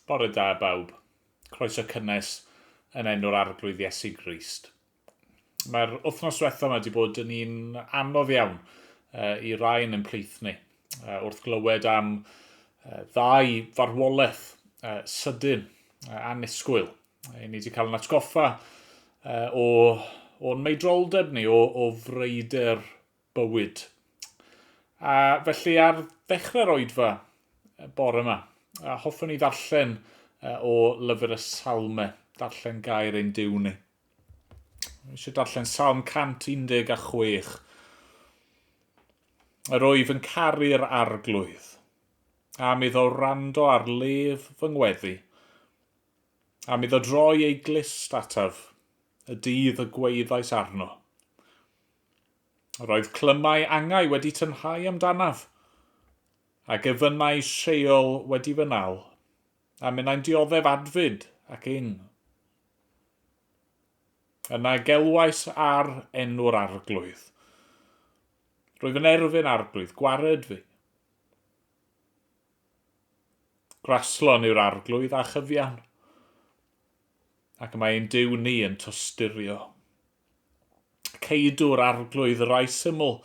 Bore da, bawb. Croeso cynnes yn enw'r Arglwydd Iesu Grist. Mae'r wythnos diwethaf yma wedi bod yn un anodd iawn uh, i rai yn ein plith ni. Uh, wrth glywed am uh, ddau farwolaeth uh, sydyn uh, annisgwyl, uh, ni wedi cael yn atgoffa uh, o, o'n meidroldeb ni, o, o freuder bywyd. A felly ar ddechrau'r oedfa bore yma, a hoffwn i ddarllen o lyfr y Salme, darllen gair ein diw ni. Mae eisiau darllen Salm 116. Yr oedd yn caru'r arglwydd, a mi ddo rando ar lef fy ngweddi, a mi ddo droi ei glist ataf, y dydd y gweithais arno. Yr oedd clymau angau wedi tynhau amdanaf, a gefynnau Sheol wedi fy nal, a minnau'n dioddef adfyd ac ing. Yna gelwais ar enw'r arglwydd. Rwyf yn erfyn arglwydd, gwared fi. Graslon yw'r arglwydd a chyfiawn, ac mae ein Duw ni yn tosturio. Ceidw'r Arglwydd y rai syml,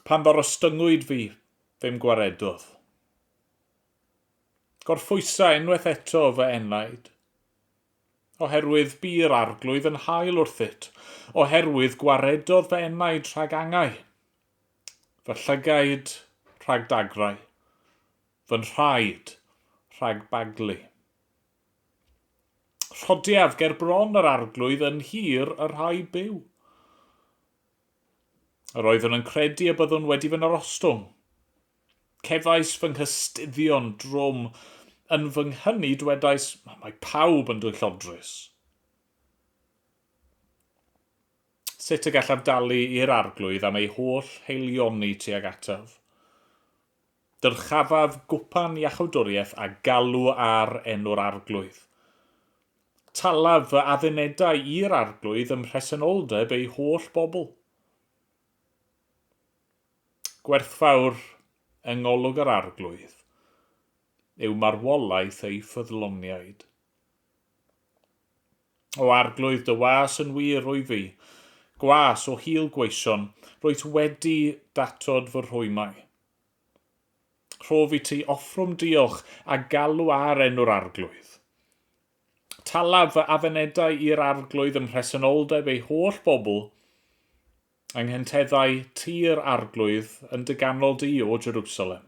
Pan ddarostyngwyd fi, fe'm gwaredodd. Gorphwysa unwaith eto fy enaid, Oherwydd bu'r Arglwydd yn hael wrthyt, Oherwydd gwaredodd fy enaid rhag angau, Fy llygaid rhag dagrau, fy nhraed rhag baglu. Rhodiaf ger bron yr Arglwydd yn nhir y rhai byw. Yr oeddwn yn credu y byddwn wedi fy narostwng. Cefais fy nghystuddion drwm yn fy nghyni dwedais, mae pawb yn dwyllodrus. Sut y gallaf dalu i'r Arglwydd am ei holl heilioni tuag ataf? Dyrchafaf gwpan iachawdwriaeth a galw ar enw'r Arglwydd. Talaf fy addunedau i'r Arglwydd ym mhresenoldeb ei holl bobl. Gwerthfawr yng ngolwg yr Arglwydd yw marwolaeth ei ffyddloniaid. O Arglwydd, dy was yn wir, wyf fi, gwas o hil gweision, rwyt wedi datod fy rhwymau. Rhof i ti offrwm diolch a galw ar enw'r Arglwydd. Talaf fy afenedau i'r Arglwydd ym mhresenoldeb ei holl bobl, yng nghenteddau tir Arglwydd yn dy ganol di, O Jerusalem.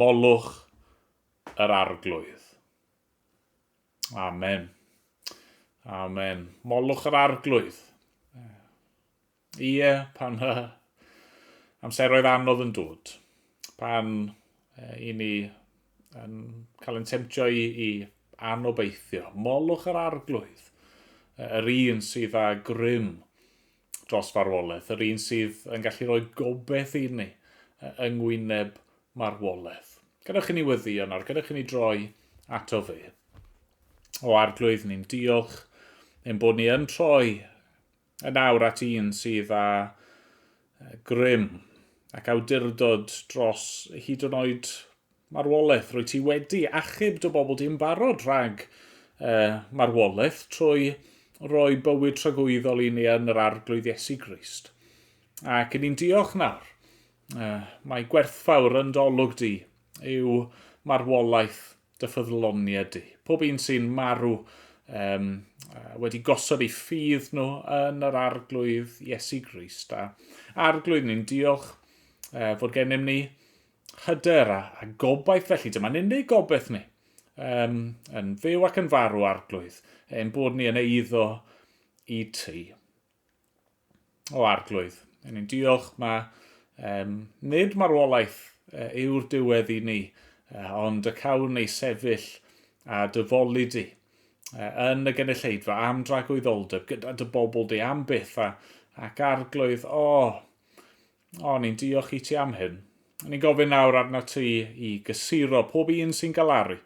Molwch yr Arglwydd. Amen. Amen. Molwch yr Arglwydd. Ie, pan mae amseroedd anodd yn dod, pan i ni yn cael ein temtio i, i anobeithio, molwch yr arglwydd, yr un sydd â grym dros farwolaeth, yr un sydd yn gallu rhoi gobeith i ni yng ngwyneb marwolaeth. Gadewch i ni weddio nawr, gadewch i ni droi ato fe. O arglwydd, ni'n diolch ein bod ni yn troi Yn awr at un sydd â grym ac awdurdod dros hyd yn oed marwolaeth. Rwyt ti wedi achub dy bobl di yn barod rhag uh, marwolaeth trwy roi bywyd tragwyddol i ni yn yr arglwydd Iesu Grist. Ac yn ni'n diolch nawr. Uh, mae gwerthfawr yn dolwg di yw marwolaeth dy ffyddloniaid di. Pob un sy'n marw um, wedi gosod ei ffydd nhw yn yr arglwydd Iesu Grist. A arglwydd ni'n diolch uh, fod gennym ni hyder a, a gobaith felly. Dyma'n unig gobaith ni um, yn fyw ac yn farw arglwydd, ein bod ni yn eiddo i ti. o Arglwydd. Yn ni'n diolch mae um, nid marwolaeth uh, yw'r diwedd i ni, uh, ond y cawn ei sefyll a dyfoli di uh, yn y genilleidfa am dragwyddoldeb gyda dy bobl di am byth a, ac arglwydd, o, oh, o, oh, ni'n diolch i ti am hyn. Ni'n gofyn nawr arna ti i gysuro pob un sy'n galaru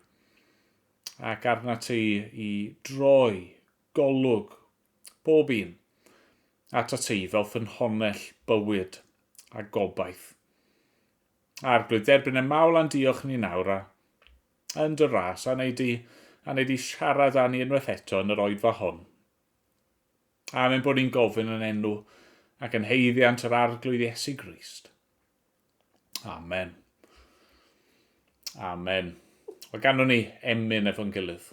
ac arna ti i droi golwg Pob un. Atat ti, fel ffynhonnell bywyd a gobaith. Arglwydd, derbyn y mawl a'n diolch ni nawr a yn dy ras, a wneud di, a wneud di siarad â ni unwaith eto yn yr oedfa hon. Amen bod ni'n gofyn yn enw ac yn heiddiant yr Arglwydd Iesu Grist. Amen. Amen. Wel, ganwn ni emyn efo'n gilydd.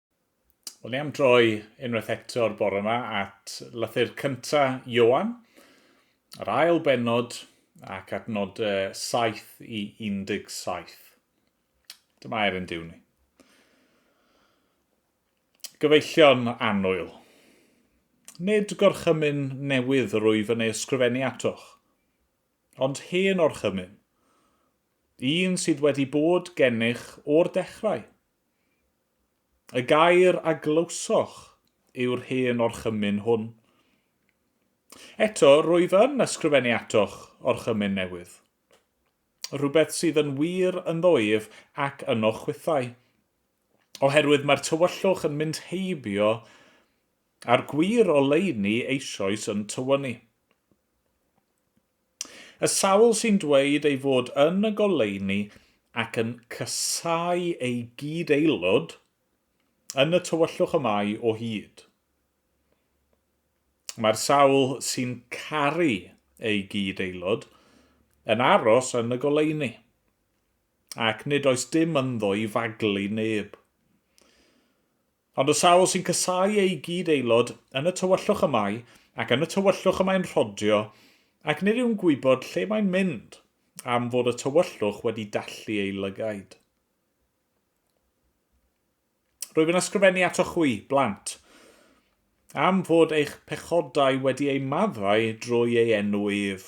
Wel, ni am droi unwaith eto'r bore yma at lythyr cynta Ioan, yr ail benod ac at nod 7 i 17. Dyma er yn diw ni. Gyfeillion annwyl. Nid gorchymyn newydd yr wyf yn ei ysgrifennu atoch, ond hen orchymyn, un sydd wedi bod gennych o'r dechrau. Y gair a glywsoch yw'r hen orchymyn hwn. Eto, rwyf yn ysgrifennu atoch orchymyn newydd. Rhywbeth sydd yn wir ynddo ef ac yno chwithau. Oherwydd mae'r tywyllwch yn mynd heibio a'r gwir oleuni eisoes yn tywynnu. Y sawl sy'n dweud ei fod yn y goleuni ac yn casáu ei gyd-aelod yn y tywyllwch y mae o hyd. Mae'r sawl sy'n caru ei gyd-aelod yn aros yn y goleuni, ac nid oes dim ynddo i faglu neb. Ond y sawl sy'n casáu eu gyd-aelod yn y tywyllwch y mae, ac yn y tywyllwch y mae'n rhodio, ac nid yw'n gwybod lle mae'n mynd, am fod y tywyllwch wedi dallu ei lygaid. Rwyf yn ysgrifennu atoch chwi, blant, am fod eich pechodau wedi eu maddau drwy ei enw ef.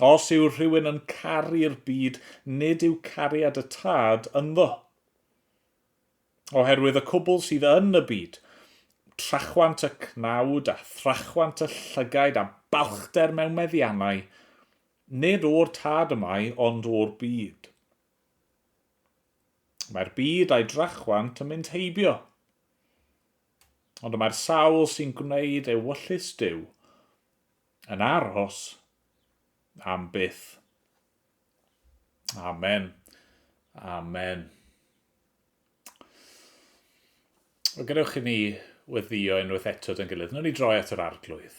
Os yw rhywun yn caru'r byd, nid yw cariad y Tad ynddo. Oherwydd y cwbl sydd yn y byd, trachwant y cnawd a thrachwant y llygaid a balchder mewn meddiannau, nid o'r Tad y mae, ond o'r byd. Mae'r byd a'i drachwant yn mynd heibio. Ond y mae'r sawl sy'n gwneud ewyllys Dyw Yn aros am byth. Amen. Amen. O gadewch i ni weddio unwaith eto dyn gilydd. Nw'n ni droi at yr arglwydd.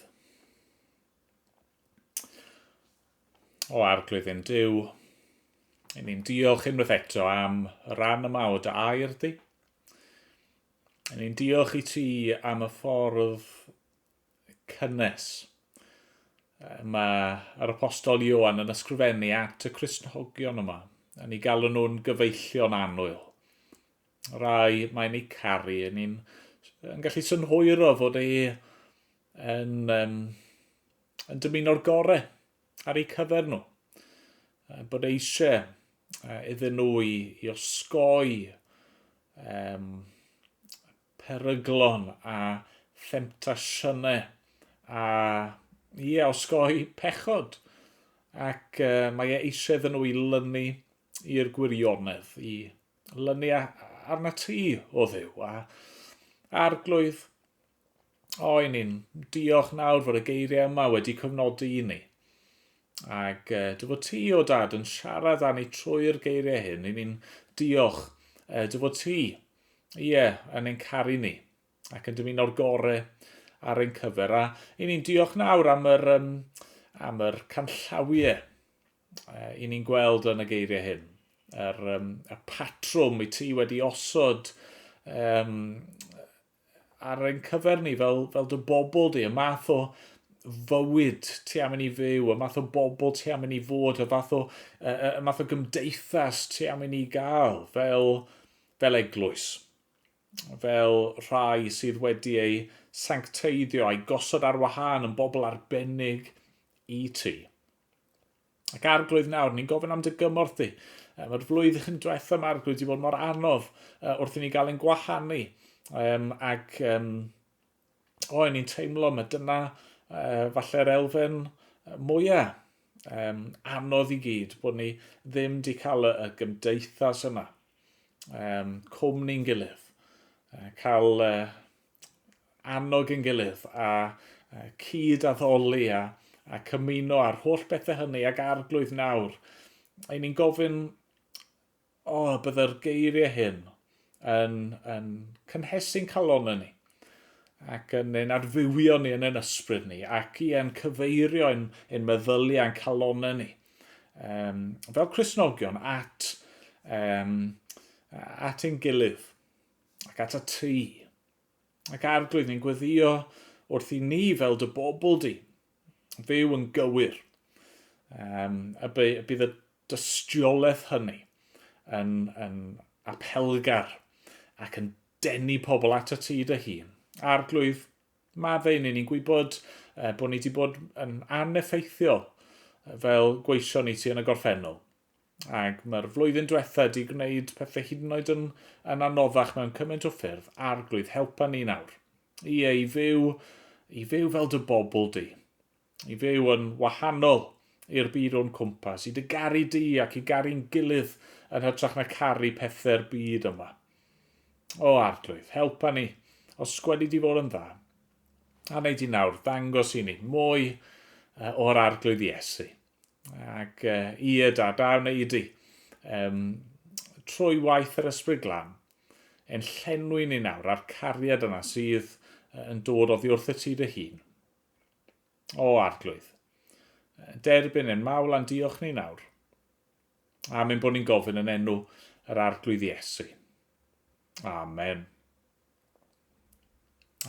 O arglwydd yn Dyw, yn ni'n diolch unwaith eto am y rhan yma o dy air di. Yn ni'n diolch i ti am y ffordd cynnes. Mae yr apostol Ioan yn ysgrifennu at y Crisnogion yma, yn ei galw nhw'n gyfeillion annwyl. Rai mae'n ei caru, yn ni'n yn gallu synhwyro fod ei yn, um, yn dymuno'r gore ar eu cyfer nhw. Bod eisiau iddyn nhw i, i osgoi um, peryglon a themtasiynau a, ie, osgoi pechod. Ac uh, mae e eisiau iddyn nhw i lynu i'r gwirionedd, i lynu arna ti o ddew. A arglwydd, o, i ni'n diolch nawr fod y geiriau yma wedi cyfnodi i ni. Ac uh, dy fod ti, o dad, yn siarad â ni trwy'r geiriau hyn, i ni'n diolch uh, dy fod ti Ie, yeah, yn ein caru ni, ac yn dymuno'r gore ar ein cyfer. A i ni'n diolch nawr am yr, um, am yr canllawiau uh, i ni'n gweld yn y geiriau hyn. Yr, um, y patrwm i ti wedi osod um, ar ein cyfer ni fel, fel dy bobl di, y math o fywyd ti am i ni fyw, y math o bobl ti am i ni fod, y fath o, y, y math o gymdeithas ti am i ni gael fel fel eglwys, fel rhai sydd wedi eu sancteiddio a'i gosod ar wahân yn bobl arbennig i ti. Ac arglwydd nawr, ni'n gofyn am dy gymorth di. Um, yr flwyddyn diwethaf yma arglwydd wedi bod mor anodd uh, wrth i ni gael ein gwahanu. Um, ac um, o, o'n i'n teimlo mae dyna uh, falle'r elfen mwyaf um, anodd i gyd, bod ni ddim wedi cael y, y gymdeithas yna, um, cwmni'n gilydd, uh, cael uh, annog yn gilydd a uh, cyd addoli a, a cymuno ar holl bethau hynny ac arglwydd nawr. Ein ni'n gofyn O, a byddai'r geiriau hyn yn, yn cynhesu'n calonau ni ac yn ein adfywio ni yn ein ysbryd ni ac i yn cyfeirio yn, yn meddyliau yn calonau ni um, fel Cresnogion at, um, at ein gilydd ac at y tu. ac Arglwydd, ni'n gweddio wrth i ni fel dy bobl di fyw yn gywir. Um, a bydd y dystiolaeth hynny yn, yn apelgar ac yn denu pobl at y ti dy hun. Arglwydd, mae fe i ni, ni'n gwybod uh, bod ni wedi bod yn aneffeithiol fel gweision i ti yn y gorffennol. Ac mae'r flwyddyn diwetha di gwneud pethau hyd yn oed yn, yn anoddach mewn cymaint o ffyrdd, arglwydd, helpa ni nawr. I ei fyw, i fyw fel dy bobl di. I fyw yn wahanol i'r byd o'n cwmpas, i dy garu di ac i garu'n gilydd yn hytrach na caru pethau'r byd yma. O arglwydd, helpa ni, os gwedi di fod yn dda. A wneud di nawr, ddangos i ni mwy o'r arglwydd Iesu. Ac uh, i y da, da wna i di. Um, trwy waith yr ysbryd glan, yn llenwi ni nawr a'r cariad yna sydd yn dod oddi wrth y ti dy hun. O arglwydd, derbyn yn mawl a'n diolch ni nawr. A mynd bod ni'n gofyn yn enw yr arglwydd Iesu. Amen.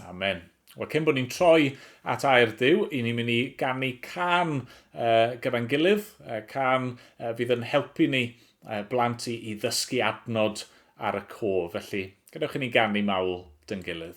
Amen. Wel, cyn bod ni'n troi at air Dyw, i ni'n mynd i ganu can uh, gyda'n gilydd, uh, can uh, fydd yn helpu ni uh, blant i, i ddysgu adnod ar y cof. Felly, gadewch i ni ganu mawl dyn gilydd.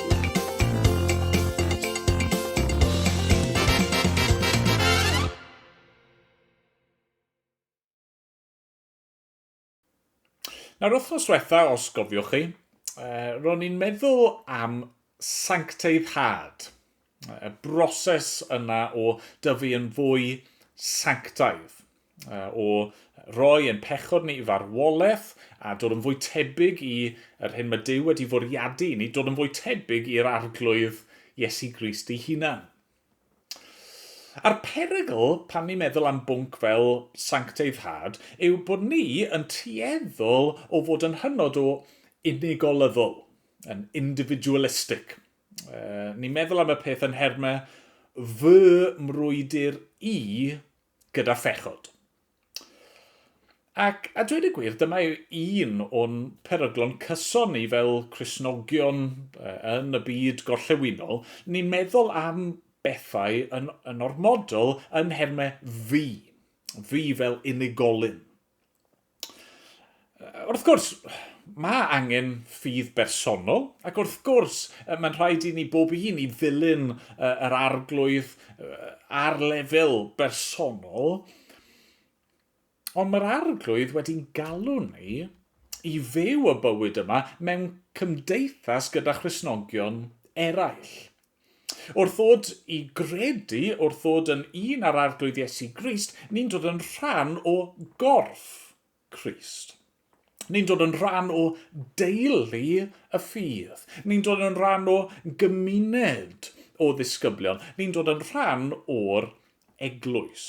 Nawr wythnos diwetha, os gofiwch chi, uh, ro'n i'n meddwl am sancteiddhad. y broses yna o dyfu yn fwy sanctaidd, o roi ein pechod ni i farwolaeth a dod yn fwy tebyg i yr hyn mae Dyw wedi fwriadu i ni, dod yn fwy tebyg i'r Arglwydd Iesu Grist ei hunan. A'r perygl pan ni'n meddwl am bwnc fel sancteiddhad yw bod ni yn tueddol o fod yn hynod o unigolyddol, yn individualistic, Uh, ni'n meddwl am y peth yn hermau fy mrwydr i gyda phechod. Ac a dweud y gwir, dyma un o'n peryglon cyson ni fel Cresnogion yn y byd gorllewinol, ni'n meddwl am bethau yn, yn ormodol yn hermau fi, fi fel unigolyn. Wrth gwrs, mae angen ffydd bersonol, ac wrth gwrs, mae'n rhaid i ni bob un i ddilyn yr arglwydd ar lefel bersonol, ond mae'r arglwydd wedi'n galw ni i fyw y bywyd yma mewn cymdeithas gyda Christnogion eraill. Wrth ddod i gredu, wrth ddod yn un ar Arglwydd Iesu Grist, ni'n dod yn rhan o gorff Crist. Ni'n dod yn rhan o deulu y ffydd. Ni'n dod yn rhan o gymuned o ddisgyblion. Ni'n dod yn rhan o'r eglwys.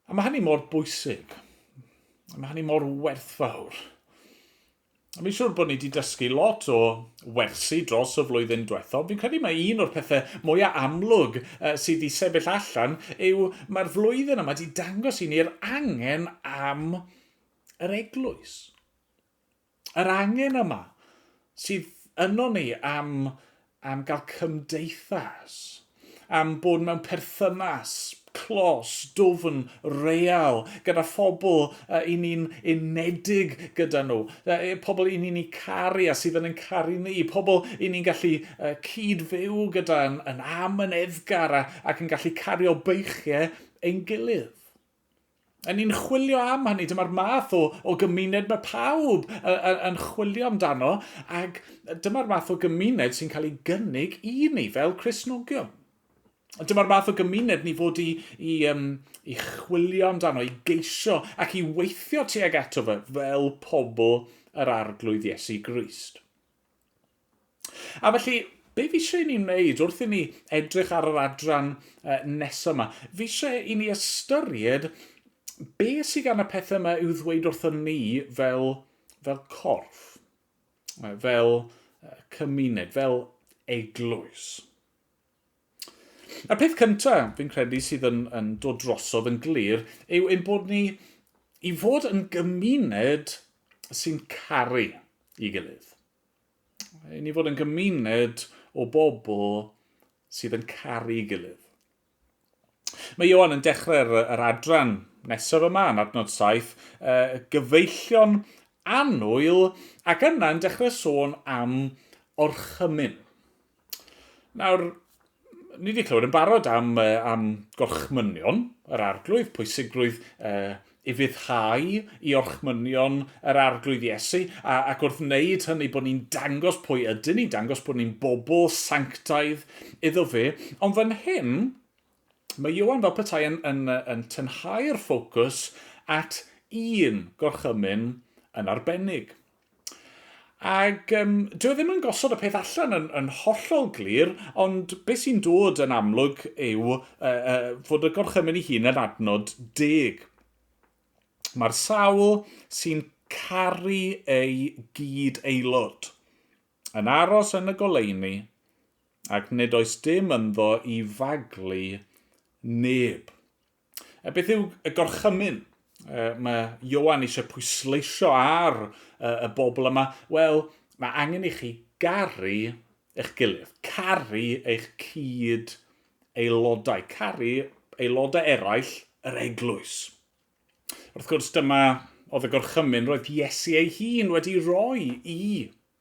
A mae hynny mor bwysig. Mae hynny mor werthfawr. Mi'n siŵr bod ni wedi dysgu lot o wersi dros y flwyddyn diwethaf. Fi'n credu mae un o'r pethau mwyaf amlwg uh, sydd wedi sefyll allan yw mae'r flwyddyn yma wedi dangos i ni'r angen am yr eglwys. Yr angen yma sydd yno ni am am gael cymdeithas, am bod mewn perthynas clos, dwfn, real, gyda phobl uh, i ni'n unedig gyda nhw, uh, pobl i ni'n ei caru a sydd yn ein caru ni, pobl i ni'n gallu uh, cyd-fyw gyda yn, yn am yn edgar a, ac yn gallu cario beichiau ein gilydd. Yn ni'n chwilio am hynny, dyma'r math o, o gymuned mae pawb yn chwilio amdano, ac dyma'r math o gymuned sy'n cael ei gynnig i ni fel Cresnogion. Dyma'r math o gymuned ni fod i, i, um, i chwilio amdano, i geisio ac i weithio tuag ato fe fel pobl yr arglwydd Iesu Grist. A felly, be fi eisiau i ni wneud wrth i ni edrych ar yr adran uh, nesaf yma? Fi eisiau i ni ystyried be sydd gan y pethau yma i'w ddweud wrtho ni fel, fel corff, fel cymuned, fel eglwys. Y peth cynta, fi'n credu, sydd yn, yn dod drosodd yn glir yw ein bod ni i fod yn gymuned sy'n caru i gilydd. I ni fod yn gymuned o bobl sydd yn caru i gilydd. Mae Ioan yn dechrau'r yr adran nesaf yma yn adnod 7, uh, gyfeillion annwyl, ac yna yn dechrau sôn am orchymyn. Nawr, ni wedi clywed yn barod am, uh, am gorchmynion yr arglwydd, pwysigrwydd uh, i fuddhau i orchmynion yr arglwydd Iesu, a, ac wrth wneud hynny bod ni'n dangos pwy ydyn ni, dangos bod ni'n bobl sanctaidd iddo fe. Ond fan hyn, mae Iwan fel petai yn, yn, yn tynhau'r ffocws at un gorchymyn yn arbennig. Ac um, dwi e ddim yn gosod y peth allan yn, yn hollol glir, ond beth sy'n dod yn amlwg yw uh, uh, fod y gorchymyn ei hun yn adnod deg. Mae'r sawl sy'n caru ei gyd aelod yn aros yn y goleuni ac nid oes dim ynddo i faglu neb. A beth yw y gorchymyn? Mae Ioan eisiau pwysleisio ar y bobl yma, wel, mae angen i chi garu eich gilydd, caru eich cyd aelodau, caru aelodau eraill yr eglwys. Wrth gwrs, dyma oedd y gorchymyn roedd Iesu ei hun wedi rhoi i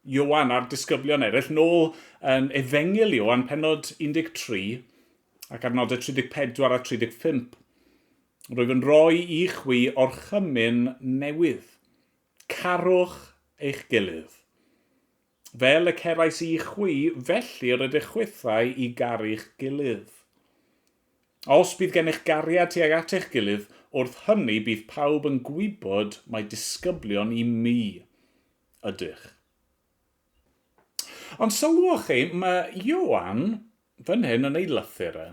Ioan a'r disgyblion eraill, nôl yn Efengyl Ioan, penod 13, ac ar nodau 34 a 35. Rwyf yn rhoi i chwi orchymyn newydd. Carwch eich gilydd. Fel y cerais i chwi, felly rydych chwithau i garu'ch gilydd. Os bydd gennych gariad tuag at eich gilydd, wrth hynny bydd pawb yn gwybod mai disgyblion i mi. Ydych. Ond sylwch chi, mae Ioan, fan hyn yn ei lythyr e,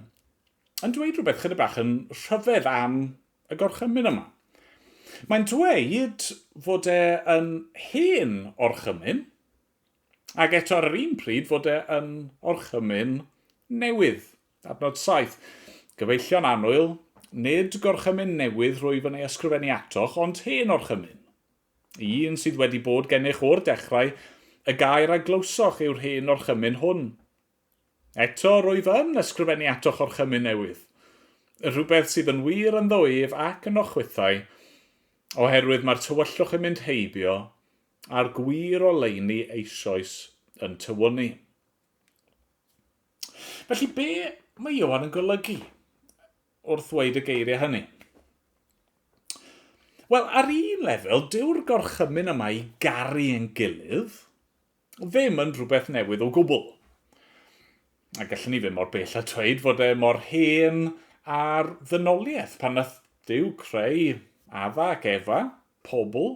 yn dweud rhywbeth chyda bach yn rhyfedd am y gorchymyn yma. Mae'n dweud fod e yn hen orchymyn, ac eto ar yr un pryd fod e yn orchymyn newydd. Adnod 7. Gyfeillion annwyl, nid gorchymyn newydd rwyf yn ei ysgrifennu atoch, ond hen orchymyn. Y un sydd wedi bod gennych o'r dechrau, y gair a glywsoch yw'r hen orchymyn hwn. Eto, rwyf yn ysgrifennu atoch orchymyn newydd. Y rhywbeth sydd yn wir ynddo ef ac ynoch chwithau, oherwydd mae'r tywyllwch yn mynd heibio, a'r gwir oleuni eisoes yn tywynnu. Felly, be mae Ioan yn golygu? wrth ddweud y geiriau hynny. Wel, ar un lefel, dyw'r gorchymyn yma i garu yn gilydd ddim yn rhywbeth newydd o gwbl. A gallwn ni ddim mor bell a dweud fod e mor hen ar ddynoliaeth pan nath Dyw creu Adda ac Efa, pobl,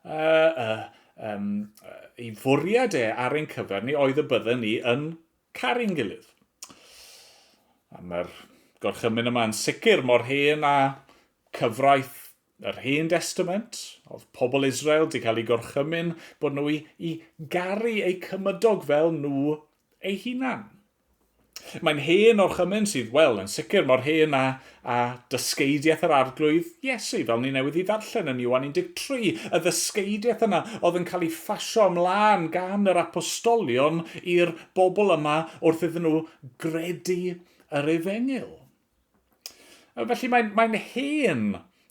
uh, uh, um, ei fwriad e ar ein cyfer ni oedd y bydden ni yn caru'n gilydd. A mae'r gorchymyn yma yn sicr mor hen a cyfraith yr Hen Destament, oedd pobl Israel wedi cael ei gorchymyn bod nhw i, i garu eu cymydog fel nhw eu hunan. Mae'n hen o'r chymyn sydd, wel, yn sicr mor hen a A dysgeidiaeth yr Arglwydd Iesu, fel ni newydd ei ddarllen yn Ioan 13, y ddysgeidiaeth yna oedd yn cael ei phasio ymlaen gan yr apostolion i'r bobl yma wrth iddyn nhw gredu yr efengyl. Felly mae'n mae hen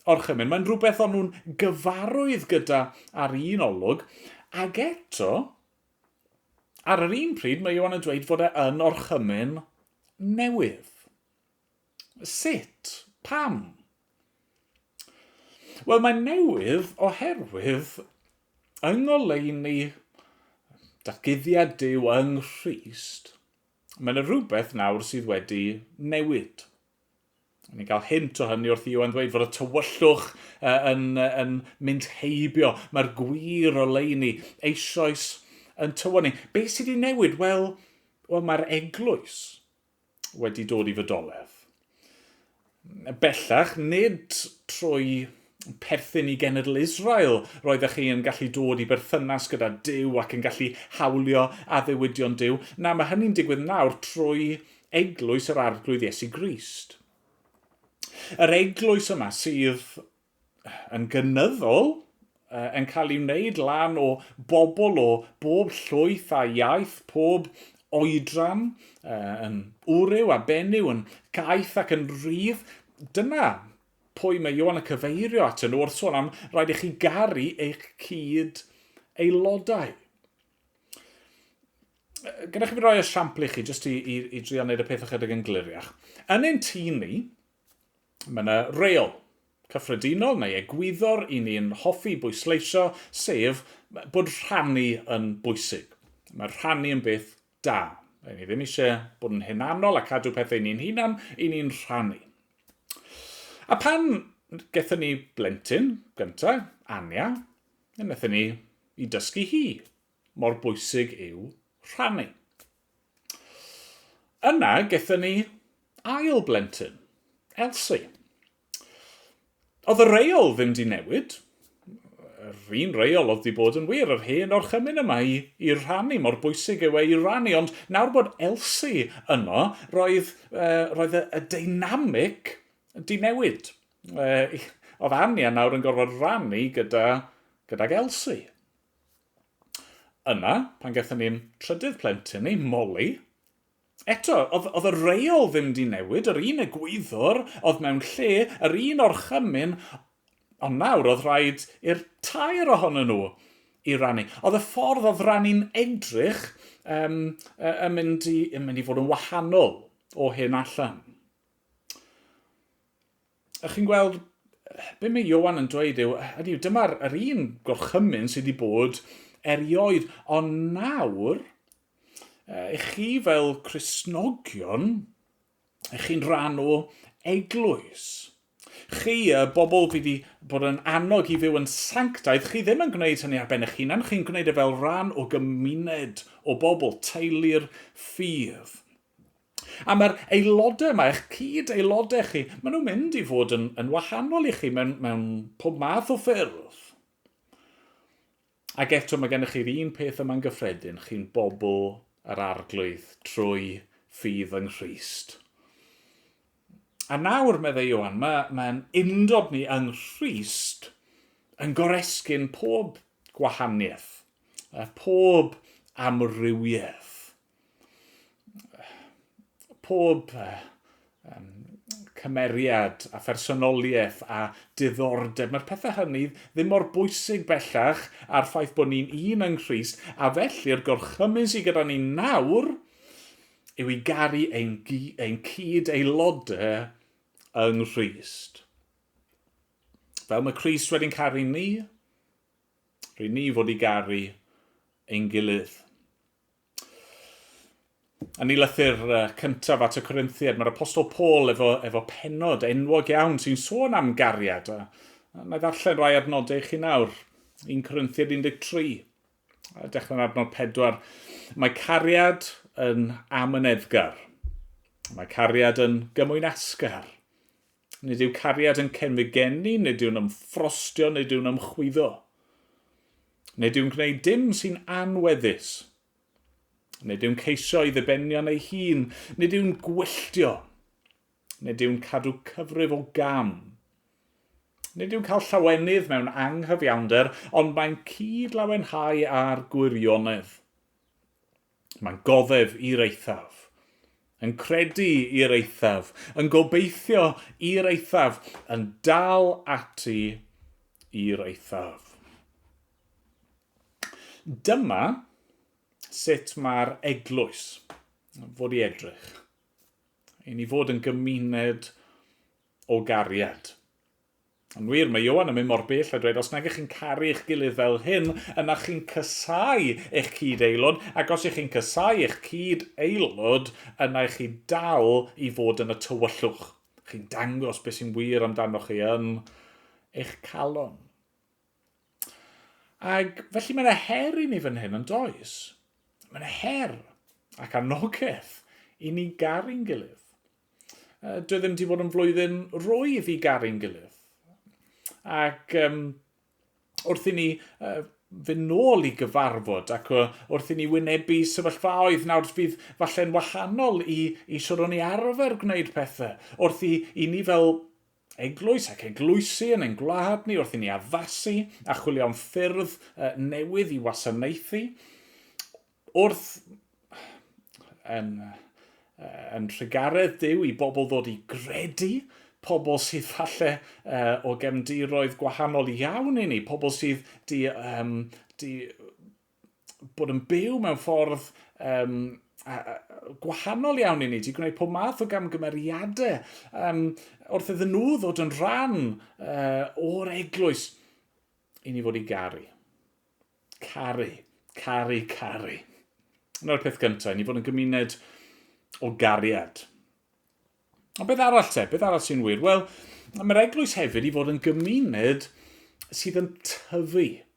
orchymyn, mae'n rhywbeth o'n nhw'n gyfarwydd gyda ar un olwg, ac eto, ar yr un pryd mae Ioan yn dweud fod e yn orchymyn newydd. Sut? Pam? Wel, mae'n newydd oherwydd yng ngoleuni datguddiad yw yng Nghrist, mae yna rhywbeth nawr sydd wedi newid. Ni'n cael hint o hynny wrth i Iwan ddweud fod y tywyllwch uh, yn, uh, yn mynd heibio. Mae'r gwir o leini eisoes yn tywon ni. Be sydd wedi newid? Wel, wel mae'r eglwys wedi dod i fodolaeth. Bellach, nid trwy perthyn i genedl Israel roeddech chi yn gallu dod i berthynas gyda Dyw ac yn gallu hawlio addewidion Dyw. Na, mae hynny'n digwydd nawr trwy eglwys yr Arglwydd Iesu Grist. Yr eglwys yma sydd yn gynyddol yn cael ei wneud lan o bobl o bob llwyth a iaith, pob oedran, yn wryw a benyw, yn gaeth ac yn rydd. Dyna pwy mae Ioan yn cyfeirio at yn wrth sôn am rhaid i chi garu eich cyd aelodau. Gyda chi fi roi esiampl i chi, jyst i, i, i drio wneud y peth ychydig yn gliriach. Yn ein tîn ni, Mae yna reol cyffredinol neu egwyddor i ni'n hoffi bwysleisio, sef bod rhannu yn bwysig. Mae rhannu yn beth da. Rydyn ni ddim eisiau bod yn hunanol a cadw pethau ni'n hunan, i ni'n rhannu. A pan gethon ni blentyn gyntaf, Anya, yn wnaethon ni i dysgu hi mor bwysig yw rhannu. Yna gethon ni ail blentyn, Elsie. Oedd y reol ddim di newid, yr un reol oedd di bod yn wir, yr hen orchymyn yma i, i rannu, mor bwysig yw e i rannu, ond nawr bod Elsie yno, roedd, uh, roedd y, y dynamic di newid. Uh, oedd Ania nawr yn gorfod rannu gyda, gydag Elsie. Yna, pan gaethon ni'n trydydd plentyn ni, Molly, eto, oedd, oedd y reol ddim di newid, yr un egwyddor oedd mewn lle, yr un orchymyn, ond nawr oedd rhaid i'r tair ohonyn nhw i rannu. Oedd y ffordd oedd rannu'n edrych um, yn, mynd i, yn mynd i fod yn wahanol o hyn allan. a chi'n gweld be mae Ioan yn dweud yw, hynny yw, dyma'r yr un gorchymyn sydd wedi bod erioed, ond nawr, i chi fel Cresnogion, i chi'n rhan o eglwys. Chi, y bobl fi wedi bod yn annog i fyw yn sanctaidd, chi ddim yn gwneud hynny ar ben eich hunan, chi'n gwneud e fel rhan o gymuned o bobl, teulu'r ffydd. A mae'r aelodau yma, eich cyd-aelodau chi, maen nhw'n mynd i fod yn, yn wahanol i chi mewn, mewn pob math o ffyrdd. Ac eto mae gennych chi'r un peth yma'n gyffredin, chi'n bobl yr arglwydd trwy ffydd yng Nghrist. A nawr, meddai Ioan, mae, mae'n undod ni yng Nghrist yn goresgyn pob gwahaniaeth, pob amrywiaeth. pob um, cymeriad a phersonoliaeth a diddordeb. Mae'r pethau hynny ddim mor bwysig bellach a'r ffaith bod ni'n un yng Nghyst, a felly'r gorchymyn sydd gyda ni nawr yw i garu ein, ein cyd aelodau yng Nghyst. Fel mae Christ wedi'n caru ni, rydyn ni fod i garu ein gilydd. A ni lythyr cyntaf at y Corinthiad, mae'r Apostol Paul efo, efo penod enwog iawn sy'n sôn am gariad. A, a na i ddarllen rai adnodau i chi nawr. 1 Corinthiad 13, a dechrau'n adnod 4. Mae cariad yn amyneddgar. Mae cariad yn gymwynasgar. Nid yw cariad yn cenfig gen i, nid yw'n ymffrostio, nid yw'n ymchwyddo. Nid yw'n gwneud dim sy'n anweddus. Nid yw'n ceisio i ddibenion ei hun, nid yw'n gwylltio. Nid yw'n cadw cyfrif o gam. Nid yw'n cael llawenydd mewn anghyfiawnder, ond mae'n cyd-lawenhau â'r gwirionedd. Mae'n goddef i'r eithaf. Yn credu i'r eithaf. Yn gobeithio i'r eithaf. Yn dal ati i'r eithaf. Dyma sut mae'r eglwys fod i edrych. I ni fod yn gymuned o gariad. Yn wir, mae Ioan yn mynd mor bell a dweud, os nag ych chi'n caru eich gilydd fel hyn, yna chi'n casáu eich cyd-aelod, ac os ych chi'n casáu eich cyd-aelod, yna ych chi dal i fod yn y tywyllwch. Chi'n dangos beth sy'n wir amdanoch chi yn eich calon. Ac felly mae yna her i ni fan hyn, yn does? Mae yna her ac anogaeth i ni garu'n gilydd. Dwi ddim wedi bod yn flwyddyn rwydd i garu'n gilydd. Ac um, wrth i ni uh, fynd nôl i gyfarfod ac wrth i ni wynebu sefyllfaoedd nawr fydd falle'n wahanol i, i siwr o'n i arfer gwneud pethau. Wrth i, i ni fel eglwys ac eglwysi yn ein gwlad ni wrth i ni addasu a chwilio am ffyrdd newydd i wasanaethu, wrth yn, yn rhugaredd Duw i bobl ddod i gredu, pobl sydd falle uh, o gefndiroedd gwahanol iawn i ni, pobl sydd di, um, di bod yn byw mewn ffordd um, a, a, gwahanol iawn i ni, di gwneud pob math o gamgymeriadau um, wrth iddyn nhw ddod yn rhan uh, o'r eglwys i ni fod i garu. Caru, caru, caru. Yna'r peth cyntaf, i ni fod yn gymuned o gariad. Ond beth arall te? Beth arall sy'n wir? Wel, mae'r eglwys hefyd i fod yn gymuned sydd yn tyfu.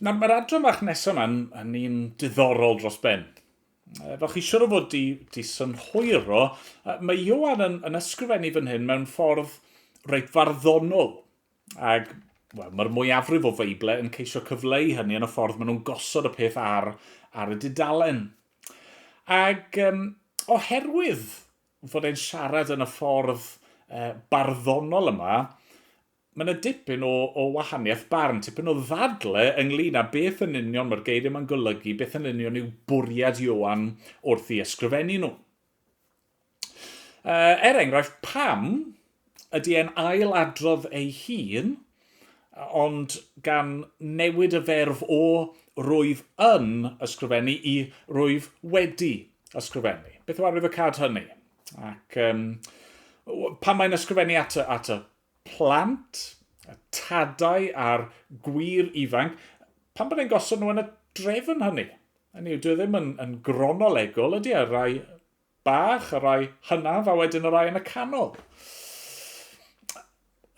Nawr, mae'r adran fach nesaf yma yn, yn un diddorol dros ben. Fel chi siwr o fod di, di synhwyro, mae Ioan yn, yn ysgrifennu fan hyn mewn ffordd reit farddonol. Ac well, mae'r mwyafrif o Feible yn ceisio cyfleu hynny yn y ffordd maen nhw'n gosod y peth ar, ar y dudalen. Ac um, oherwydd fod e'n siarad yn y ffordd uh, barddonol yma, Mae yna dipyn o, o wahaniaeth barn, tipyn o ddadle ynglyn â beth yn union mae'r geiriau yma'n golygu, beth yn union yw bwriad Ioan wrth i ysgrifennu nhw. Uh, er enghraifft, pam ydy e'n ail adrodd ei hun, ond gan newid y ferf o rwyf yn ysgrifennu i rwyf wedi ysgrifennu. Beth yw arwyddocad hynny? Ac um, pan mae'n ysgrifennu at y, at y plant, y tadau a'r gwir ifanc, pan bod e'n gosod nhw yn y drefn hynny. Hynny yw, dwi e ddim yn, yn gronolegol, ydy ar e? rai bach, y rai hynaf, a wedyn y rai yn y canol.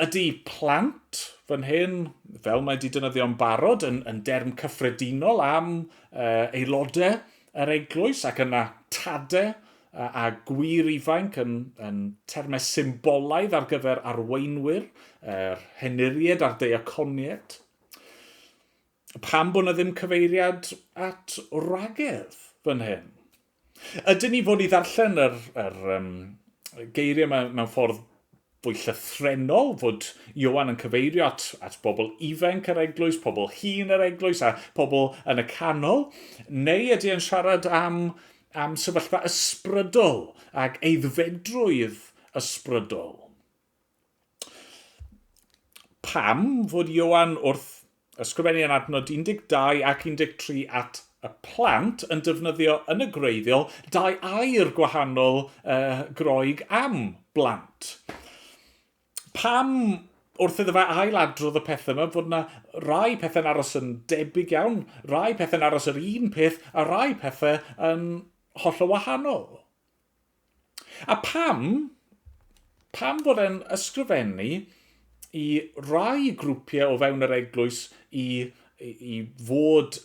Ydy plant fan hyn, fel mae wedi yn barod, yn, yn derm cyffredinol am uh, aelodau yr eglwys ac yna tade a gwir ifainc yn, yn termau symbolaidd ar gyfer arweinwyr, yr henuried a'r deiaconied. Pam bod yna ddim cyfeiriad at wragedd fan hyn? Ydyn ni fod i ddarllen yr, yr um, geiriau mewn, mewn ffordd Fwy llythrennol, fod Ioan yn cyfeirio at, at bobl ifainc yr eglwys, pobl hŷn yr eglwys a pobl yn y canol, neu ydy e'n siarad am, am sefyllfa ysbrydol ac eiddfedrwydd ysbrydol? Pam fod Ioan wrth Ysgrifennu yn adnod 12 ac 13 at y plant yn defnyddio yn y gwreiddiol dau air gwahanol uh, Groeg am blant. Pam wrth iddo fe ail adrodd y pethau yma fod yna rai pethau'n aros yn debyg iawn, rai pethau'n aros yr un peth a rai pethau yn holl o wahanol. A pam, pam fod e'n ysgrifennu i rai grwpiau o fewn yr eglwys i, i, i fod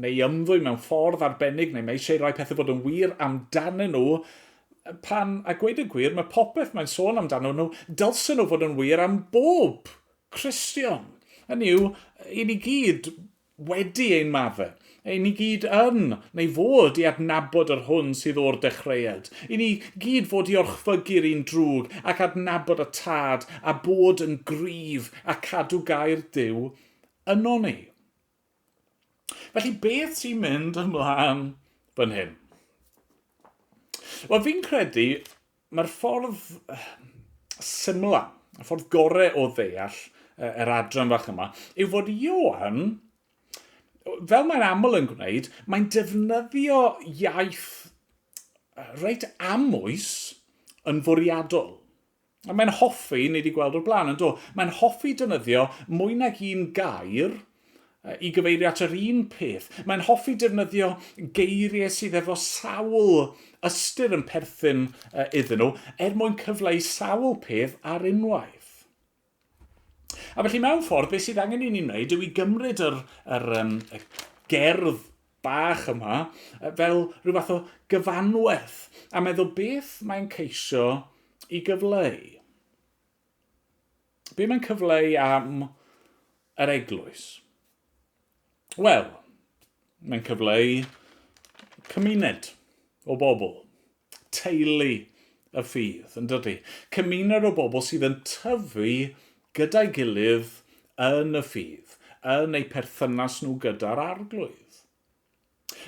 neu i ymddwy mewn ffordd arbennig, neu mae eisiau rhoi pethau bod yn wir amdanyn nhw, pan, a gweud y gwir, mae popeth mae'n sôn amdano nhw, dylsyn nhw fod yn wir am bob Cristion. Hynny yw, i ni gyd, wedi ein maddau. Ei ni gyd yn, neu fod, i adnabod yr hwn sydd o'r dechreuad. I ni gyd fod i orchfygu'r un drwg, ac adnabod y Tad, a bod yn gryf, a cadw gair Duw yno ni. Felly beth sy'n mynd ymlaen fan hyn? Wel, fi'n credu Mae'r ffordd syml, y ffordd gorau o ddeall yr adran fach yma, yw fod Ioan, fel mae'n aml yn gwneud, mae'n defnyddio iaith reit amwys yn fwriadol. A mae'n hoffi, ni wedi gweld o'r blaen, yn do, mae'n hoffi defnyddio mwy nag un gair i gyfeirio at yr un peth. Mae'n hoffi defnyddio geiriau sydd efo sawl ystyr yn perthyn iddyn nhw er mwyn cyfleu sawl peth ar unwaith. A felly mewn ffordd, beth sydd angen i ni wneud yw i gymryd yr, yr, um, y gerdd bach yma fel rhyw fath o gyfanwaith a meddwl beth mae'n ceisio i gyfleu. Be mae'n cyfleu am yr eglwys? Wel, mae'n cyfleu cymuned o bobl, teulu y ffydd, yn dydy? Cymuned o bobl sydd yn tyfu gyda'i gilydd yn y ffydd, yn eu perthynas nhw gyda'r arglwydd.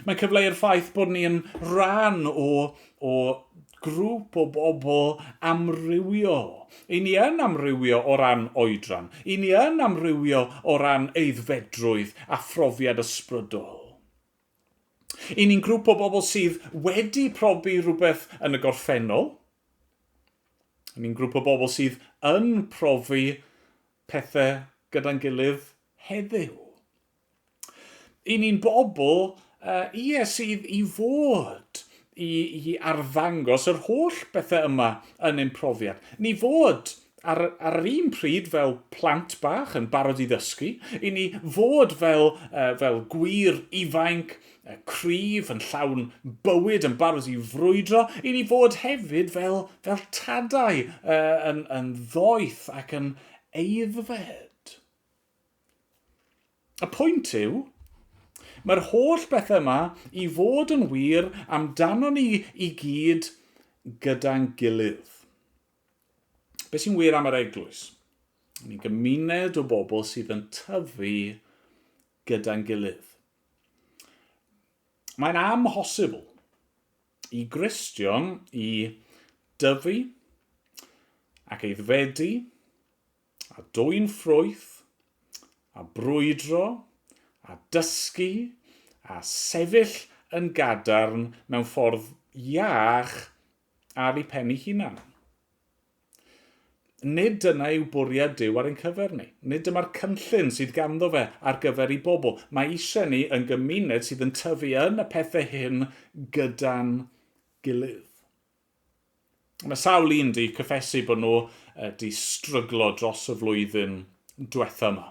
Mae'n cyfleu'r ffaith bod ni yn rhan o, o grŵp o bobl amrywiol. I ni yn amrywio o ran oedran. I ni yn amrywio o ran eiddfedrwydd a phrofiad ysbrydol. I ni'n grŵp o bobl sydd wedi profi rhywbeth yn y gorffennol. I ni'n grŵp o bobl sydd yn profi pethau gyda'n gilydd heddiw. I ni'n bobl, uh, ie, sydd i fod i, i arddangos yr holl bethau yma yn ein profiad. Ni fod ar, ar yr un pryd fel plant bach yn barod i ddysgu, i ni fod fel, uh, fel gwir ifainc, uh, cryf, yn llawn bywyd, yn barod i frwydro, i ni fod hefyd fel, fel tadau uh, yn, yn ddoeth ac yn eiddfed. Y pwynt yw, mae'r holl bethau yma i fod yn wir amdanon ni i gyd gyda'n gilydd. Be sy'n wir am yr eglwys? Ni'n gymuned o bobl sydd yn tyfu gyda'n gilydd. Mae'n amhosibl i Gristion i dyfu ac eiddfedu a dwyn ffrwyth, a brwydro, a dysgu, a sefyll yn gadarn mewn ffordd iach ar eu pen eu hunain. Nid dyna yw bwriad Duw ar ein cyfer ni. Nid dyma'r cynllun sydd ganddo fe ar gyfer ei bobl. Mae eisiau ni yn gymuned sydd yn tyfu yn y pethau hyn gyda'n gilydd. Mae sawl un di cyffesu bod nhw di stryglo dros y flwyddyn diwetha yma.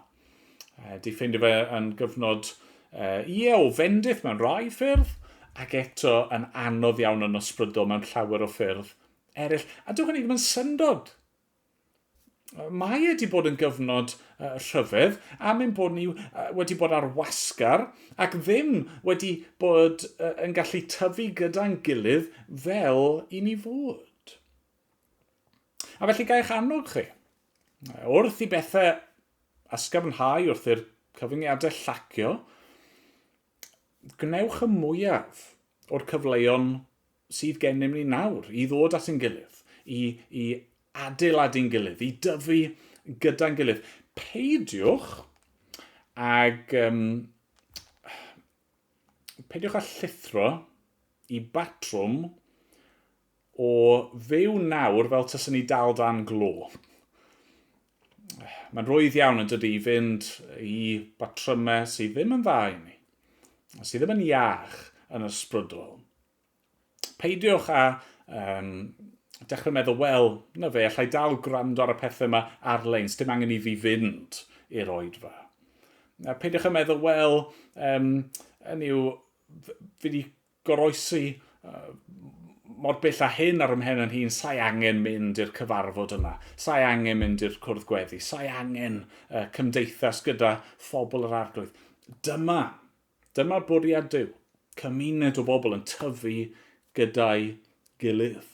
Di ffeindio fe yn gyfnod, ie, o fendith mewn rhai ffyrdd, ac eto yn anodd iawn yn ysbrydol mewn llawer o ffyrdd eraill. A dywch hynny ddim yn syndod Mae e wedi bod yn gyfnod uh, rhyfedd am ein bod ni uh, wedi bod ar wasgar ac ddim wedi bod uh, yn gallu tyfu gyda'n gilydd fel i ni fod. A felly gaech annog chi, wrth i bethau ysgafnhau wrth i'r cyfyngiadau llacio, gwnewch y mwyaf o'r cyfleon sydd gennym ni nawr, i ddod at ein gilydd, i, i adeiladu'n gilydd, i dyfu gyda'n gilydd. Peidiwch ag... Um, peidiwch â llithro i batrwm o fyw nawr fel tysyn ni dal dan glo. mae'n rwydd iawn yn dydy i fynd i batrymau sydd ddim yn dda i ni, sydd ddim yn iach yn ysbrydol. Peidiwch â um, dechrau meddwl, wel, na fe, allai dal gwrando ar y pethau yma ar-lein, sdim angen i fi fynd i'r oedfa. A peidiwch â meddwl, wel, um, yn yw, fi wedi goroesi mor bell a hyn ar ymhen yn hun, sa'i angen mynd i'r cyfarfod yna, sa'i angen mynd i'r cwrdd gweddi, sa'i angen uh, cymdeithas gyda phobl yr arglwydd. Dyma, dyma bwriad Dyw, cymuned o bobl yn tyfu gyda'i gilydd.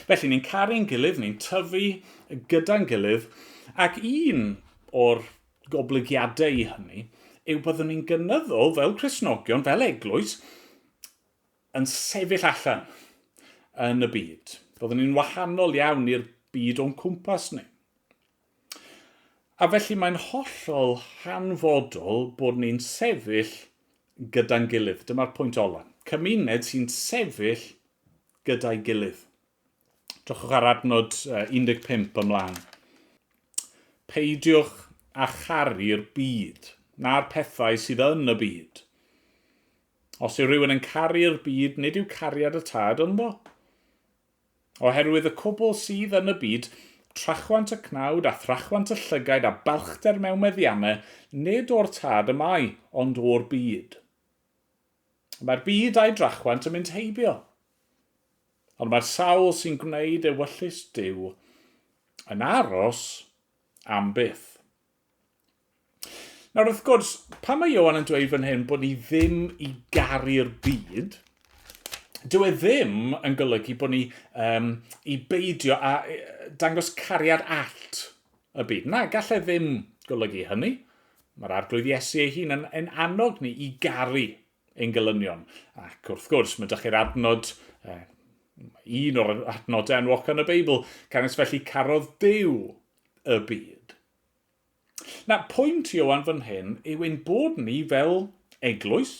Felly, ni'n caru'n gilydd, ni'n tyfu gyda'n gilydd, ac un o'r goblygiadau i hynny yw byddwn ni'n gynyddol fel Cresnogion, fel eglwys, yn sefyll allan yn y byd. Byddwn ni'n wahanol iawn i'r byd o'n cwmpas ni. A felly mae'n hollol hanfodol bod ni'n sefyll gyda'n gilydd. Dyma'r pwynt ola. Cymuned sy'n sefyll gyda'i gilydd. Drychwch ar adnod 15 ymlaen. Peidiwch a charu'r byd, na'r pethau sydd yn y byd. Os yw rhywun yn caru'r byd, nid yw cariad y tad ynddo. Oherwydd y cwbl sydd yn y byd, trachwant y cnawd a thrachwant y llygaid a balchder mewn meddianne, nid o'r tad y mae, ond o'r byd. Mae'r byd a'i drachwant yn mynd heibio. Ond mae'r sawl sy'n gwneud ewyllys Duw yn aros am byth. Nawr wrth gwrs, pan mae Ioan yn dweud fan hyn bod ni ddim i garu'r byd, dyw e ddim yn golygu bod ni um, i beidio a e, dangos cariad allt y byd. Na, gallai e ddim golygu hynny. Mae'r arglwydd Iesu ei hun yn, yn annog ni i garu ein gelynion. Ac wrth gwrs, mae chi'r adnod, eh, un o'r adnodau enwoca yn y Beibl, canys felly carodd Dyw y byd. Na, pwynt Iowan fan hyn yw ein bod ni fel eglwys,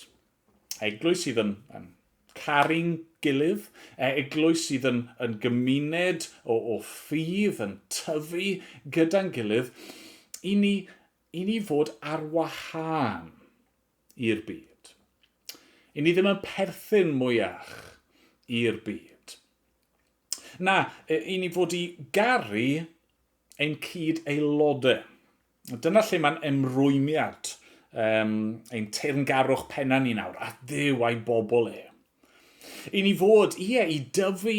eglwys sydd yn, yn caru'n gilydd, e, eglwys sydd yn, yn gymuned o, o ffydd, yn tyfu gyda'n gilydd, i ni, i ni fod ar wahân. i'r byd. I ni ddim yn perthyn mwyach i'r byd. Na, i ni fod i garu ein cyd aelodau. Dyna lle mae'n emrwymiad um, ein teyrngarwch penna ni nawr, a ddew a'i bobl e. I ni fod, ie, i dyfu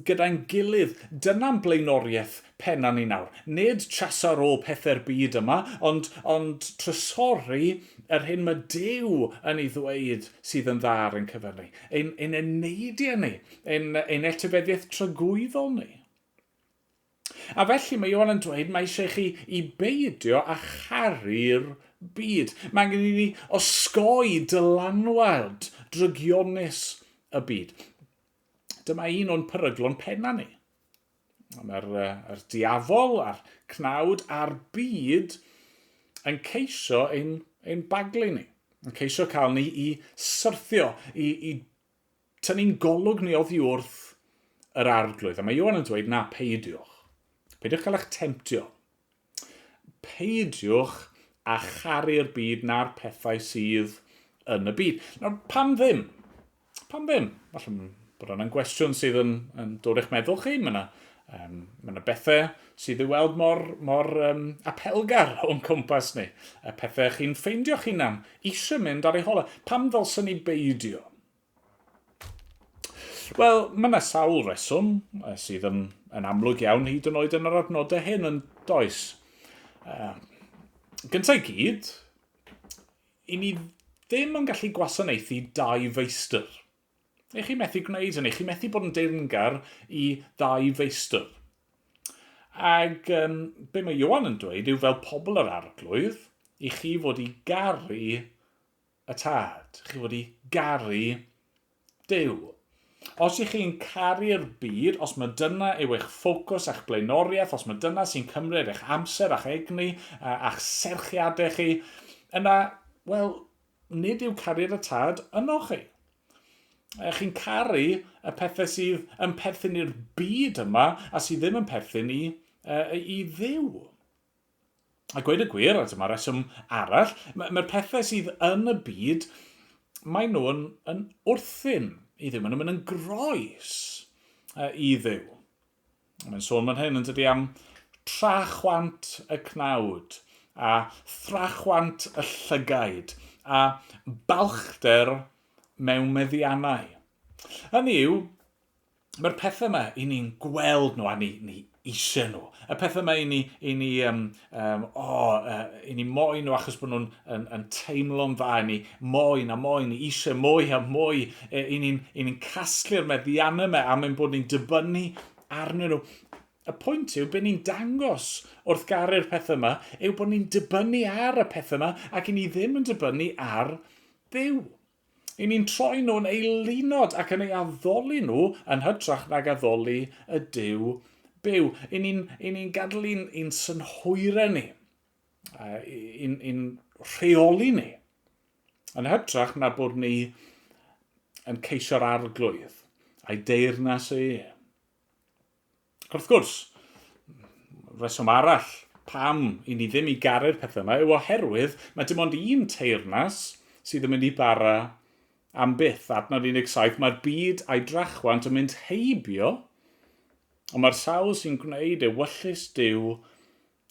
gyda'n gilydd, dyna'n blaenoriaeth pennaf ni nawr. Nid trysor o pethau'r byd yma, ond, ond trysori yr hyn mae Duw yn ei ddweud sydd yn dda ar ein cyfer ni, ein, ein eneidiau ni, ein, ein etifeddiaeth tragwyddol ni. A felly mae Ioan yn dweud mae eisiau chi i beidio â charu'r byd. Mae angen i ni osgoi dylanwad drygionus y byd. Dyma un o'n peryglon penna ni. Mae'r er diafol a'r cnawd a'r byd yn ceisio ein, ein baglu ni, yn ceisio cael ni i syrthio, i, i Tynnu'n golwg ni oddi wrth yr arglwydd. A mae Ioan yn dweud, na, peidiwch. Peidiwch cael eich temtio. Peidiwch a charu'r byd na'r pethau sydd yn y byd. Nawr, pam ddim? Pam ddim? Falle bod yna'n gwestiwn sydd yn, yn dod eich meddwl chi. Mae yna Um, mae yna bethau sydd i weld mor, mor um, apelgar o'n cwmpas ni. Y pethau chi'n ffeindio'ch hunan eisiau mynd ar ei hola. Pam ddylsyn ni beidio? Wel, mae yna sawl reswm sydd yn, yn amlwg iawn hyd yn oed yn yr adnodau hyn yn does. Uh, gyntaf i gyd, i ni ddim yn gallu gwasanaethu dau feistr. Neu chi methu gwneud hynny, chi methu bod yn deyrngar i ddau feistr. Ac um, be mae Johan yn dweud yw fel pobl yr arglwydd, i chi fod i garu y tad, chi fod i garu Dyw. Os ych chi'n caru'r byd, os mae dyna yw eich ffocws a'ch blaenoriaeth, os mae dyna sy'n cymryd eich amser a'ch egni a'ch serchiadau chi, yna, wel, Nid yw cariad y tad ynoch chi. Eh, chi'n caru y pethau sydd yn perthyn i'r byd yma a sydd ddim yn perthyn i, uh, i ddiw. A gweud y gwir, a dyma reswm arall, mae'r pethau sydd yn y byd, mae nhw'n yn wrthyn i ddiw, maen nhw'n mynd yn groes uh, i ddiw. Mae'n sôn fan hyn yn dydi am trachwant y cnawd a thrachwant y llygaid a balchder mewn meddiannau. Hynny yw, mae'r pethau yma i ni'n gweld nhw a ni, ni eisiau nhw. Y pethau yma i ni, i ni um, Um, o, oh, uh, i ni moyn nhw achos bod nhw'n yn, yn teimlo'n dda i ni, moyn a moyn, i eisiau mwy a mwy, e, i ni'n ni, casglu'r meddiannau yma am ein bod ni'n dibynnu arnyn nhw. Y pwynt yw, byd ni'n dangos wrth garu'r pethau yma, yw bod ni'n dibynnu ar y pethau yma ac i ni ddim yn dibynnu ar ddew. Ry'n ni'n troi nhw'n eilunod ac yn eu addoli nhw yn hytrach nag addoli y Duw byw. Ry'n ni'n ry'n ni'n gadael i'n i'n synhwyrau ni, i'n i'n rheoli ni, yn hytrach na bod ni yn ceisio'r arglwydd a'i deyrnas e. Wrth gwrs, rheswm arall pam i ni ddim i garu'r pethau yma yw oherwydd mae dim ond un teyrnas sydd yn mynd i bara am byth, adnod 17, mae'r byd a'i drachwant yn mynd heibio, ond mae'r sawl sy'n gwneud ewyllys Duw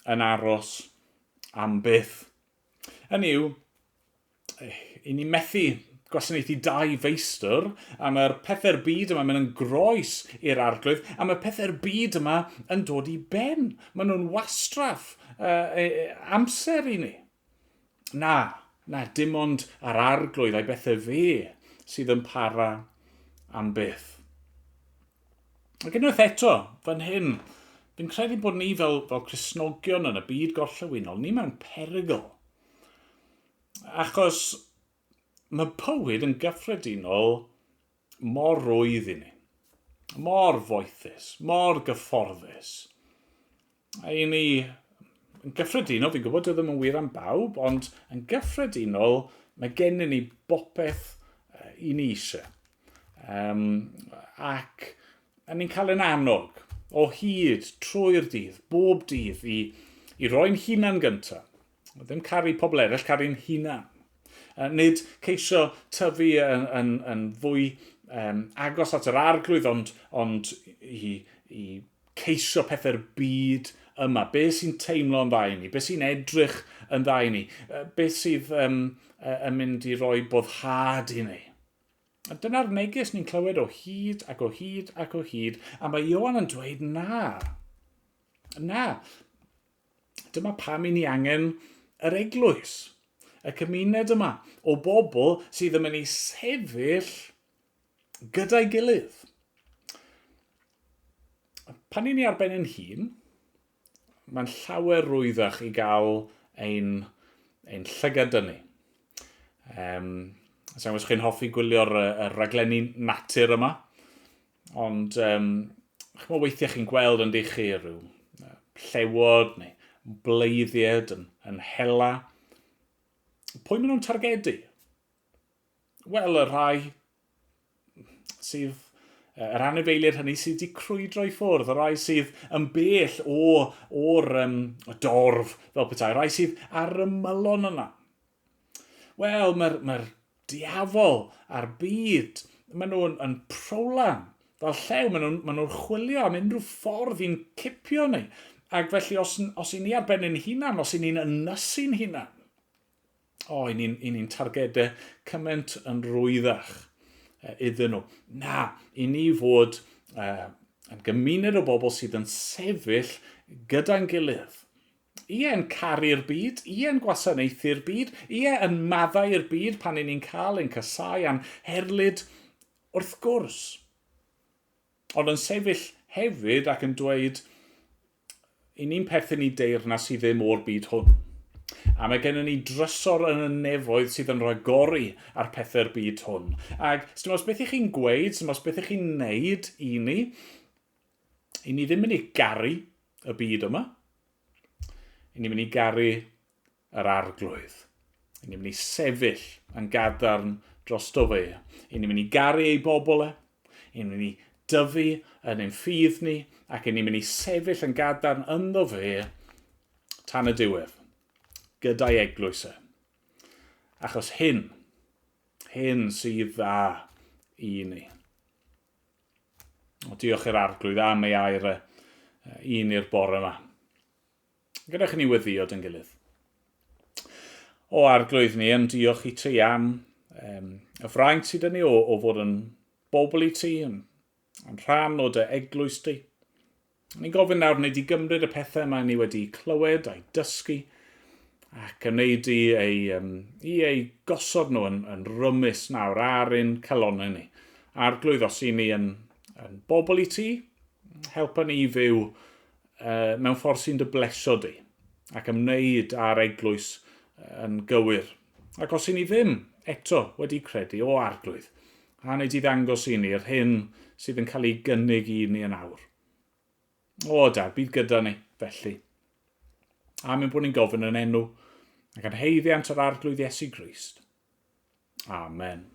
yn aros am byth. Hynny yw, i ni methu gwasanaethu dau feistr, a mae'r pethau'r byd yma mynd yn groes i'r arglwydd, a mae pethau'r byd yma yn dod i ben. Maen nhw'n wastraff uh, amser i ni. Na, na, dim ond ar arglwydd a'i bethau fe sydd yn para am byth. Ac unwaith eto, fan hyn, fi'n credu bod ni fel, fel Cresnogion yn y byd gorllewinol, ni mewn perygl. Achos mae bywyd yn gyffredinol mor rwydd i ni, mor foethus, mor gyfforddus. I ni, yn gyffredinol, fi'n gwybod dwi ddim yn wir am bawb, ond yn gyffredinol, mae gennym ni bopeth i ni eisiau. Um, ac a ni'n cael yn annog o hyd trwy'r dydd, bob dydd, i, i roi'n hunan gyntaf. Ddim caru pobl eraill, caru'n hunan. Nid ceisio tyfu yn, yn, yn fwy um, agos at yr arglwydd, ond, ond i, i ceisio pethau'r byd yma. Be sy'n teimlo'n dda i ni? Be sy'n edrych yn dda i ni? Be sydd um, yn mynd i roi boddhad i ni? A dyna'r neges ni'n clywed o hyd ac o hyd ac o hyd, a mae Iowan yn dweud na. Na, Dyma pam i ni angen yr eglwys, y cymuned yma o bobl sydd yn mynd i sefyll gyda'i gilydd. Pan i ni ar ben yn hun, mae'n llawer rwyddach i gael ein, ein llygad dynnu. Um, Sa'n gwybod chi'n hoffi gwylio'r uh, raglenni natur yma? Ond, um, chymod, weithiau chi'n gweld yn dych chi rhyw llewod neu bleiddied yn, yn hela. Pwy maen nhw'n targedu? Wel, y rhai sydd yr anifeiliaid hynny sydd wedi crwydro i ffwrdd, y rhai sydd yn bell o, o'r um, dorf fel petai, y rhai sydd ar y mylon yna. Wel, mae'r, mae'r diafol a'r byd, maen nhw'n yn prowlan fel llew, maen nhw'n maen nhw chwilio am unrhyw ffordd i'n cipio ni. Ac felly, os, os i ni ar ben ein hunan, os i ni'n ynysu'n hunan, o, i ni'n ni, ni targedau cymaint yn rwyddach iddyn nhw. Na, i ni fod uh, yn gymuned o bobl sydd yn sefyll gyda'n gilydd Ie, yn caru'r byd, ie, yn gwasanaethu'r byd, ie, yn maddau'r byd pan i ni'n cael ein casau a'n herlid, wrth gwrs. Ond yn sefyll hefyd ac yn dweud, i ni'n perthyn i deyrnas sydd ddim o'r byd hwn. A mae gennym ni drysor yn y nefoedd sydd yn rhagori ar pethau'r byd hwn. Ac, os beth i chi'n gweud, os beth i chi'n neud i ni, i ni ddim yn ei garu y byd yma, i ni'n mynd i garu yr arglwydd. I ni'n mynd i sefyll yn gadarn dros do fe. I ni'n mynd i garu ei bobl e. I ni'n mynd i dyfu yn ein ffydd ni ac i ni'n mynd i sefyll yn gadarn ynddo fe tan y diwedd gyda'i eglwys e. Achos hyn, hyn sydd dda i ni. O, diolch i'r arglwydd am ei air e, i ni'r bore yma. Gyda chi ni weddio dyn gilydd. O arglwydd ni, yn diolch i ti am um, y fraint sydd yn ni o, o fod yn bobl i ti, yn, yn rhan o dy eglwys di. Ni'n gofyn nawr wneud i gymryd y pethau mae ni wedi clywed a'i dysgu ac yn wneud i ei, um, i ei gosod nhw yn, yn rymus nawr ar ein calonau ni. Arglwydd, os i ni yn, yn bobl i ti, helpa ni i fyw uh, mewn ffordd sy'n dy blesio di ac ymwneud â'r eglwys yn gywir. Ac os i ni ddim eto wedi credu o arglwydd, A wnei di ddangos i ni yr hyn sydd yn cael ei gynnig i ni yn awr? O, Dad, bydd gyda ni, felly. A mynd bod ni'n gofyn yn enw ac yn heiddiant yr arglwydd Iesu Grist. Amen.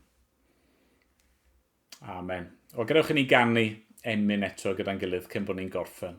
Amen. O, gadewch i ni ganu emyn eto gyda'n gilydd cyn bod ni'n gorffen.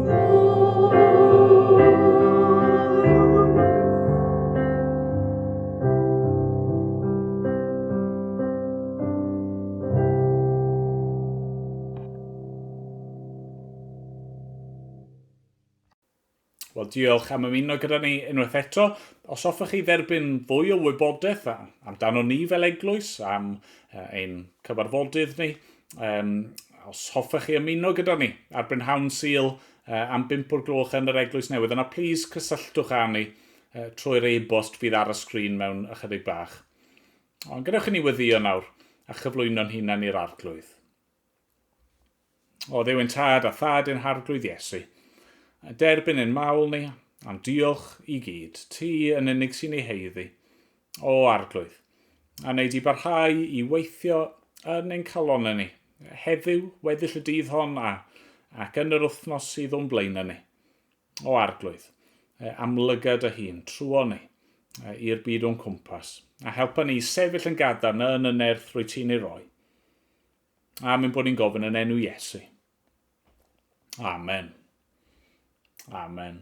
Wel, diolch am ymuno gyda ni unwaith eto. Os hoffech chi dderbyn fwy o wybodaeth amdano ni fel eglwys, am ein cyfarfodydd ni, Um, os hoffech chi ymuno gyda ni ar Brynhawn Sil uh, am 5 o'r gloch yn yr Eglwys Newydd, yna plis cysylltwch â ni uh, trwy'r e-bost fydd ar y sgrin mewn ychydig bach. Ond gadewch i ni weddio nawr a chyflwyno'n hunan i'r arglwydd. O ddewyn tad a thad yn harglwydd Iesu, a derbyn yn mawl ni, am diolch i gyd, ti yn unig sy'n ei heiddi, o Arglwydd, a wnei di barhau i weithio yn ein calonau ni, heddiw, weddill y dydd hon, a, ac yn yr wythnos sydd o'n blaenau ni. O Arglwydd, amlyga dy hun, trwon ni, i'r byd o'n cwmpas, a helpa ni i sefyll yn gadarn yn y nerth rwy ti'n ei roi. A mynd bod ni'n gofyn yn enw Iesu. Amen. Amen.